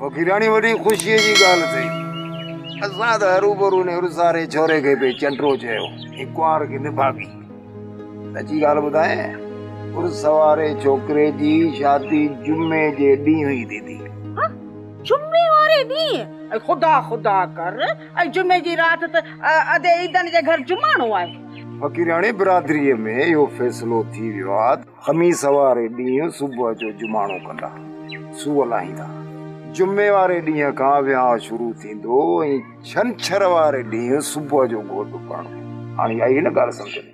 فقيراڻي وڏي خوشيء جي ڳالهه ٿئي. اسان ته هروڀرو ان هرساري ڇوري کي پئي چنڊرو چيو ۽ ڪنوار کي نڀاڳي. سچي ڳالهه ٻڌايين، هرس واري ڇوڪري جي شادي جمعي جي ڏينهن ئي ٿي ٿي. هه! جمعي واري ڏينهن؟ اي خدا خدا ڪر، اي جمعي جي رات ته ادي عيدن جي گهر جماڻو آهي. فقيراڻي برادريء ۾ اهو فيصلو ٿي ويو آ ته. خميس واري ڏينهن صبح جو جماڻو ڪندا، سوء لاهيندا. جمعي واري ڏينهن کان ويهانء شروع ٿيندو ۽ ڇنڇر واري ڏينهن صبح جو گهوٽ پڙهندو. هاڻي آئي هن ڳالهه سمجهه ۾.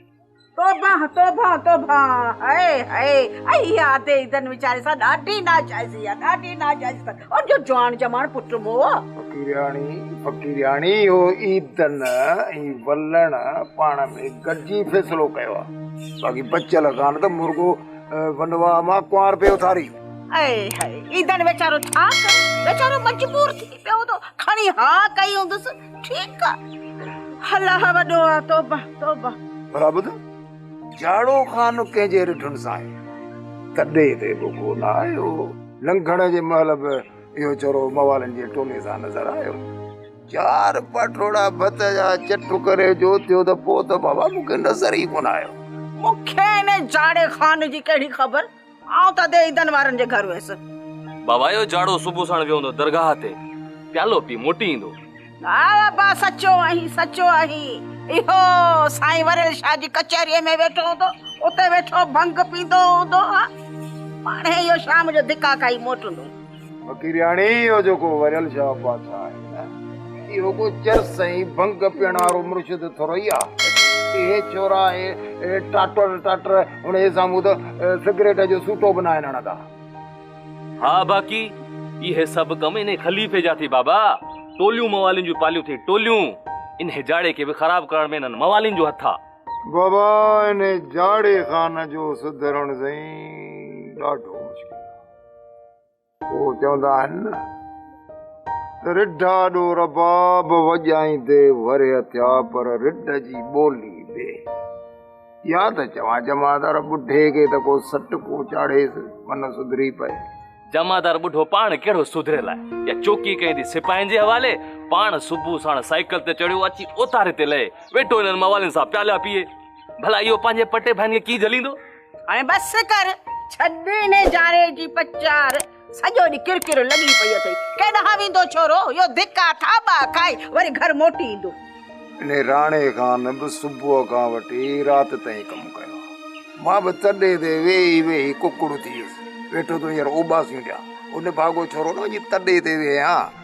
توبهه توبهه توبهه هئي هئي اهي آڌي عيدن ويچاري سان ڏاڍي ناجائزي آ ڏاڍي ناجائزي تن ان جو جوان جماڻ پٽ موء. فقيرياڻي فقيرياڻي اهو عيدن ۽ ولڻ پاڻ ۾ گڏجي فيصلو ڪيو آ. باقي بچيل ڪان ته مرڳو ونوا مان ڪنوارپي اٿاري. اي هاء ايندڻ ويچارو ڇا ڪري ويچارو مجبور ٿي پيو هوندو کڻي ها ڪئي هوندس ٺيڪ آ الله وڏو آ توبه توبه. ڀلا ٻڌ جاڙو خان ڪنهن جي رڍن سان آهي تڏي تي به ڪو نه آيو لنگهڻ جي مهل به اهو چرو موالن جي ٽولي سان نظر آيو. چار پاٽوڙا ڀت جا چٽ ڪري جو ٿيو ته پوء ته بابا مون کي نظر ئي ڪونه آيو. مون کي ان جاڙي خان جي ڪهڙي خبر، آئون ته ادي عيدن وارن جي گهر ويس. بابا اهو جاڙو صبح ساڻ ويو هوندو درگاهه تي، پيالو پي موٽي ايندو. ها بابا سچو آهين سچو آهين، اهو سائين وريل شاهه جي ڪچهريء ۾ ويٺو هوندو، اتي ويٺو ڀنگ پيندو هوندو ها، پاڻهي اهو شام جو ڌڪا کائي موٽندو. فقيرياڻي اهو جيڪو وريل شاهه پاسا آهي نه، اهو ڪو چرس ۽ ڀنگ پيئڻ وارو مرشد ٿورئي آ. اهي ڇورا ۽ ٽاٽر ٽاٽر انهيء سامهون ته سگريٽ جو سوٽو به ناهن هڻندا. ها باقي اهي سڀ ڪم انهيء خليفي جا ٿي بابا. ٽوليون موالين جون پاليون ٿي ٽوليون. انهيء جاڙي کي به خراب ڪرڻ ۾ انهن موالين جو هٿ آ. بابا انهيء جاڙي خان جو سڌرڻ سائين ڏاڍو مشڪل آ. هو چوندا آهن نه ته رڍا ڏو رباب وڄائيندي ورهيه ٿيا پر رڍ جي ٻولي ٻي يا ته چوان جمعدار ٻڍي کي ته ڪو سٽ ڪو چاڙهيس من سڌري پئي جمعدار ٻڍو پاڻ ڪهڙو سڌريل آهي يا چوڪي ڪئي ٿي سپاهين جي حوالي پاڻ صبح ساڻ سائيڪل تي چڙهيو اچي اوتاري تي لهي ويٺو هنن موالين سان پيالا پيئي ڀلا اهو پنهنجي پٽي ڀائين کي ڪي جهليندو هاڻي بس ڪر، ڇڏ ان جاري جي پچار، سڄو ڏينهن ڪر ڪر لڳي پئي اٿئي، ڪيڏانهن ويندو ڇورو، اهو ڌڪا ٿاٻا کائي وري گهر موٽي ايندو. ان راڻي خان به صبح کان وٺي رات تائين ڪم ڪيو آهي، مان به تڏي تي ويهي ويهي ڪڪڙ ٿي ويس، ويٺو ٿو هينئر اوٻاسيون ڏيان، ان ڀاڳو ڇورو نه وڃي تڏي تي ويهان.